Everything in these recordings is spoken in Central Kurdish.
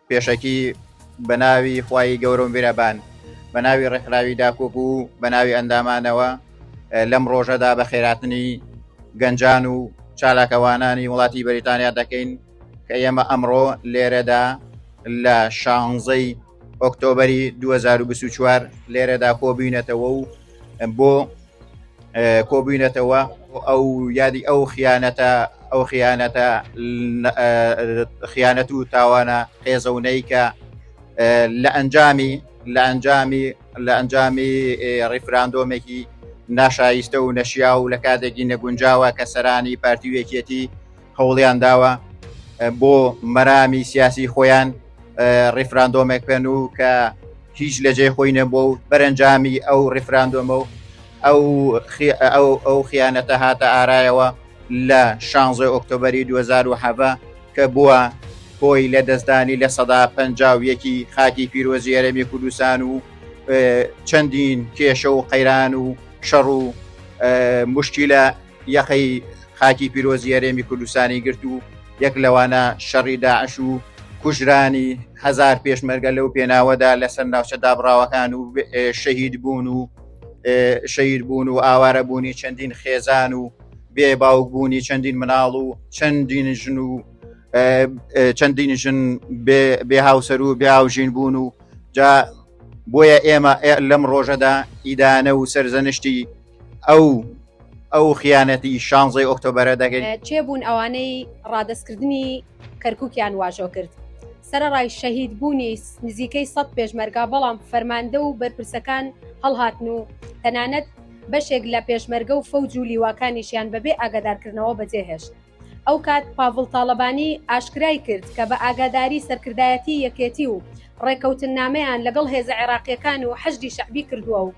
پێشەکی بەناوی خوای گەورە و میرەبان بە ناوی ڕێکخراوی داکۆپ و بە ناوی ئەندامانەوە لەم ڕۆژەدا بە خێراتنی گەنجان و چالاکەوانانی وڵاتی بەریتانیا دەکەین کە ئێمە ئەمڕۆ لێرەدا لە شانزەی ئۆکتۆبری 2024 لێرەدا کۆبیینەتەوە و بۆ کۆبووینەتەوە ئەو یادی ئەو خیانەتە ئەو خیانەتە خیانەت و تاوانە قێزەونەی کە لە ئەنجامی لە ئەنجامی لە ئەنجامی ڕیفراندۆمێکی ناشایستە و نەشیا و لە کاتێکی نەگونجاوە کە سەرانی پارتیوێکیەتی هەوڵیان داوە بۆ مەرامی سیاسی خۆیان ڕیفراندۆمێک پێن و کە هیچ لە جێ خۆی نەبوو و بەرەنجامی ئەو ڕیفراندۆمە و ئەو ئەو خیانەتە هاتە ئارایەوە لە شانزە ئۆکتۆبری 2010 کە بووە هۆی لە دەستدانی لە سەدا پ یەکی خاکی پیرۆزی ئەرێمی کوردستان و چەندین کێشە و قەیران و شەڕ و مشکیلە یەخەی خاکی پیرۆزی هەرێمی کوردستانی گرت و یەک لەوانە شەڕی داعش و کوژرانی هزار پێشمەرگە لەو پێناوەدا لەسەر ناوچە دابڕاوەکان و شەهید بوون و شەیر بوون و ئاوارە بوونی چەندین خێزان و بێ باوک بوونی چەندین مناڵ و چەندین ژن و چەندین ژن بێ هاوسەر و بێ هاوژین بوون و جا بۆیە ئێمە لەم ڕۆژەدا ئیدانە و سەرزەنشتی ئەو ئەو خیانەتی شانزەی ئۆکتۆبرە دەگەن چێ بوون ئەوانەی ڕادستکردنی کەرکووکیان واژۆ کرد سەرڕای شەهید بوونی نزیکەی سە پێشمەرگا بەڵام فەرماندە و بەرپرسەکان هەڵهاتن و تەنانەت بەشێک لە پێشمەرگە و فەوج و لیواکانیشیان بەبێ ئاگادارکردنەوە بەجێهێشت ئەو کات پاڤڵ تاڵەبانی ئاشکرای کرد کە بە ئاگاداری سەرکردایەتی یەکێتی و ڕێکەوتننامەیان لەگەڵ هێزە عێراقییەکان و حەشدی شەعبی کردووە و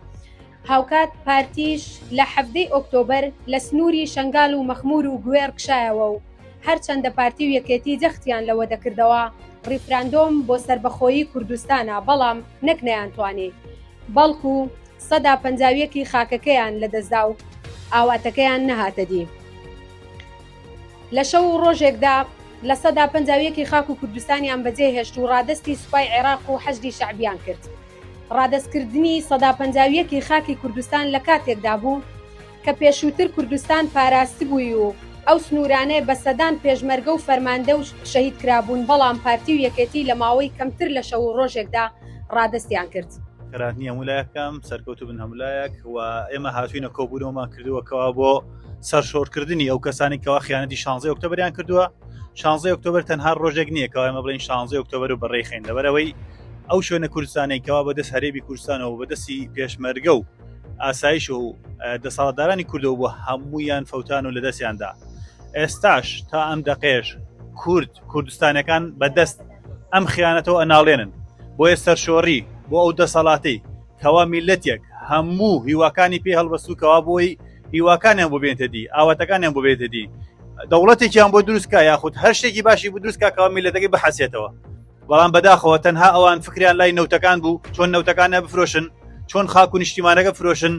هاوکات پارتیش لە حەڤدەی ئۆکتۆبەر لە سنووری شەنگال و مەخموور و گوێڕ کشایەوە و هەرچەندە پارتی و یەکێتی جەختیان لەوە دەکردەوە ڕیفراندۆم بۆ سەربەخۆیی کوردستانە بەڵام نەک نەیانتوانی بەڵکوو سەدا پەنجا و یەک ی خاکەکەیان لەدەستدا و ئاواتەکەیان نەهاتە دی. لە شەو و ڕۆژێکدا لە سەدا پەنجا و یەک ی خاک و کوردستانیان بەجێهێشت و ڕادەستی سوپای عێراق و حەشدی شەعبیان کرد. ڕادەستکردنی سەدا پەنجا و یەک ی خاکی کوردستان لە کاتێکدا بوو، کە پێشووتر کوردستان پاراستبووی و ئەو سنوورانەی بە سەدان پێشمەرگە و فەرماندە و شەهید کرابوون، بەڵام پارتی و یەکێتی لە ماوەی کەمتر لە شەو و ڕۆژێکدا ڕادەستیان کرد. خەراتنی هەموو لایەک بکەم سەرکەوتوو بن هەموو لایەک و ئێمە هاتوینە کۆبوونەوەمان کردووە کەوا بۆ سەرشۆرکردنی ئەو کەسانی کەوا خیانەتی شانزی ئۆکتۆبریان کردووە شانزی ئۆکتۆبر تەنها ڕۆژێک نییە کەوا ئێمە بڵین شانزی ئۆکتۆبر و بەڕێخین لەبەرەوەی ئەو شوێنە کوردستانێکەوە بەدەست هەرێبی کوردستانەوە بەدەستی پێشمەرگە و ئاسایش و دەسەڵاتدارانی کوردەوە بۆ هەموویان فەوتان و لە دەستیاندا ئێستاش تا ئەم دەقێش کورد کوردستانەکان بەدەست ئەم خیانەتەوە ئەناڵێنن بۆیە سەرشۆڕی بۆ ئەو دەسەڵاتی کەوا میلەتێک هەموو هیواکانی پێ هەڵبەسوکەوا بۆی هیواکانیان بۆ بێنتە دی ئاواتەکانیان بۆ بێتە دی دەوڵەتێکیان بۆ دروستکە یاخود هەر شتێکی باشی بۆ دروستکە کەوا میلەتەکەی بحەسێتەوە بەڵام بەداخەوە تەنها ئەوان فکریان لای نەوتەکان بوو چۆن نەوتەکانە بفرۆشن چۆن خاک و نیشتیمانەکە فرۆشن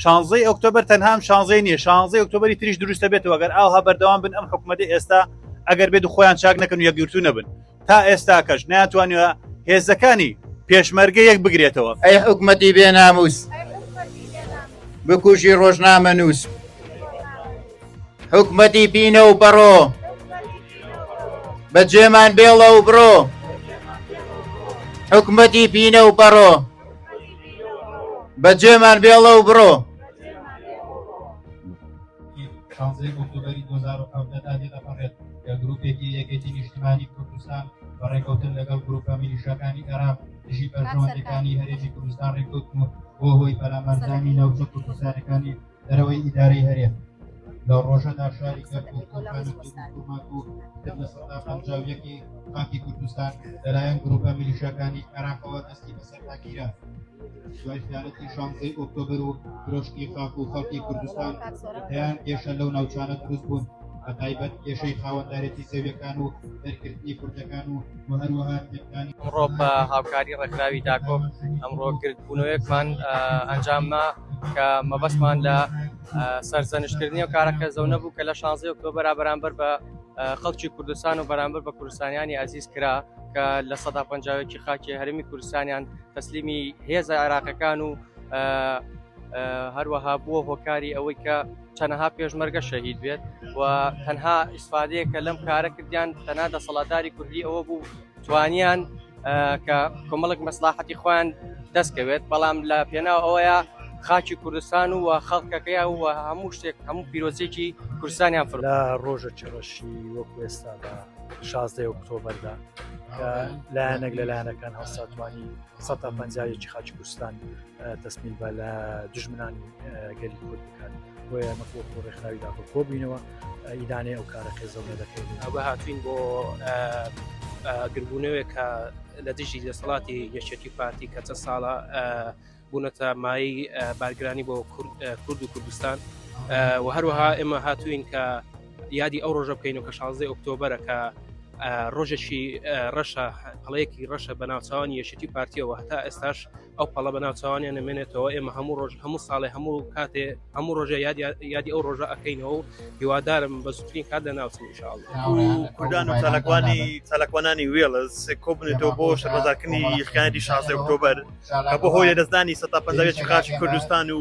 شانزەی ئۆکتۆبر تەنهام شانزەی نیە شانزەی ئۆکتۆبری تریش دروستە بێتەوە گەر ئاها بەردەوام بن ئەم حکوومەتی ئێستا ئەگەر بێت خۆیان چاک نەکەن و یەکگرتو نەبن تا ئێستا کەش ناتوانە هێزەکانی پێشمەرگە یەک بگرێتەوە ئەی حکوومەتی بێناموس بکوژی ڕۆژنامە نووس حکومەتی پینە و پەڕۆ بە جێمان بێڵە و بڕۆ حکومەتی پینە و پەڕۆ بە جێمان بێڵە و بڕۆ گروپێکی یەکێتی نیشتمانی کوردستان بە ڕێکەوتن لەگەڵ گروپە میلیشەکانی عێراق دژی بەرژەوەندەکانی هەرێمی کوردستان ڕێکوتن و بۆ هۆی پەلامەرزانی ناوچە کوردستانەکانی دەرەوەی ئیدارەی هەرێم لە ڕۆژەدا شاری گەرکوماکوکی خاکی کوردستان لەلایەن گروپە میلیشەکانی عراقەوە دەستی بەسەرداگیرە دوای خیانەتی شانزەی ئۆکتۆبر و درۆشتی خاک و خەڵکی کوردستان دەیان کێشە لەو ناوچانە دروست بوون بە تایبەت کێشەی خاوەندارێتی زەویەکان و دەرکردنی کوردەکان و و هەروەها تێکانی ڕۆ بە هاوکاری ڕێکخراوی داکۆم ئەمڕۆ گردبوونەوەیەکمان ئەنجامە کە مەبەستمان لە سەرزەنشتکردنی و کارە کەزەونە بوو کە لە شانزی ئۆکتۆبرا بەرامبەر بە خەڵکی کوردستان و بەرامبەر بە کوردستانیانی ئازیز کرا کە لە سەدا پنجاوێکی خاکی هەرمی کوردستانیان تەسلیمی هێزە عێراقەکان و هەروەها بووە هۆکاری ئەوەی کە چەنەها پێشمەرگە شەهید بێت و تەنها ئیسفادەیە کە لەم کارە کردیان تەنا دەسەڵاتداری کوردی ئەوە بوو توانیان کە کۆمەڵک مەسلاحەتی خۆیان دەستکەوێت بەڵام لە پێناو ئەوەیە خاچی کوردستان و خەڵکەکەی و هەموو شتێک هەموو پیرۆزێکی کوردستانیان فر لە ڕۆژە چڕەشی وەکو ئێستا بە شازدە ئۆکتۆبەردا لایەنێک لە لایەنەکان هەڵساتوانی 150 خاچی کوردستان تەسمیل بە لە دژمنانی گەلی کورد بکات بۆ ئەمە خۆ خۆ ڕێکخراوی داخۆ کۆبووینەوە ئیدانەی ئەو کارە قێزەونە دەکەین ئەوە هاتوین بۆ گربوونەوەێک کە لە دژی دەسەڵاتی یەکێتی پارتی کە چە ساڵە بوونەتە مای بارگرانی بۆ کورد و کوردستان و هەروەها ئێمە هاتوین کە یادی ئەو ڕۆژە بکەین و کە 16 ئۆکتۆبرە کە ڕۆژێکی ڕەشە هەڵەیەکی ڕەشە بە ناوچوان یەشتی پارتیەوە هەتا ئێستاش ئەو پەڵە بە ناوچوانیان نمێنێتەوە ئێمە هەموو ڕۆژ هەموو ساڵێ هەموو کاتێ هەموو ڕۆژە یادی ئەو ڕۆژە ئەەکەینەوە و هیوادارم بە زوترین کات لە ناوچن شاڵ کوردان و تەلەکوانی تەلەکوانانی وێڵز کۆبنێتەوە بۆ شەرمەزارکردنی خیانی شازدە ئۆکتۆبەر بۆ هۆی لەدەستدانی سەتا پەنجاوێکی خاچی کوردستان و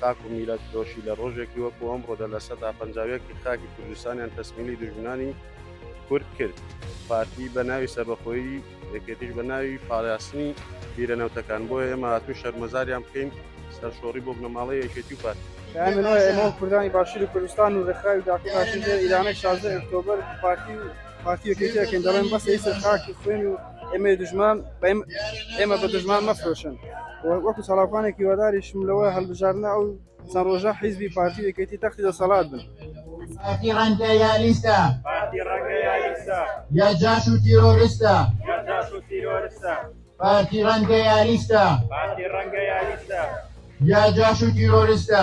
خاک و میللەت فرۆشی لە ڕۆژێکی وەکو ئەمڕۆدا لە سەدا پەنجا و یەک ی خاکی کوردستانیان تەسمیلی دوژمنانی کورد کرد. پارتی بە ناوی سەربەخۆیی، یەکێتیش بە ناوی پاراستنی بیرە نەوتەکان. بۆیە ئێمە هاتووین شەرمەزاریان بکەین. سەرشۆڕی بۆ بنەماڵەی یەکێتی و پارتی. پەیامی نوێ ئێمە و کوردانی باشووری کوردستان و ڕێکخراوی داکۆ کارشی ژێر ئیرانەی شازدە ی ئۆکتۆبەر پارتی و یەکێتی ئەکەین. دەڵێن بەسە هیچ خاک و خوێن و ئێمەی دژمان ئێمە بە دژمان مەفرۆشن وەکو سەڵاوانێکی وەداریشم لەوە هەڵبژارنە ئەو چەند ڕۆژە حیزبی پارتی یەکێتی تەختی دەسەڵات بن پارتی ڕەنگە یالیستە یا جاش و تیرۆریستە پارتی ڕەنگە یالیستە یا جاش و تیرۆریستە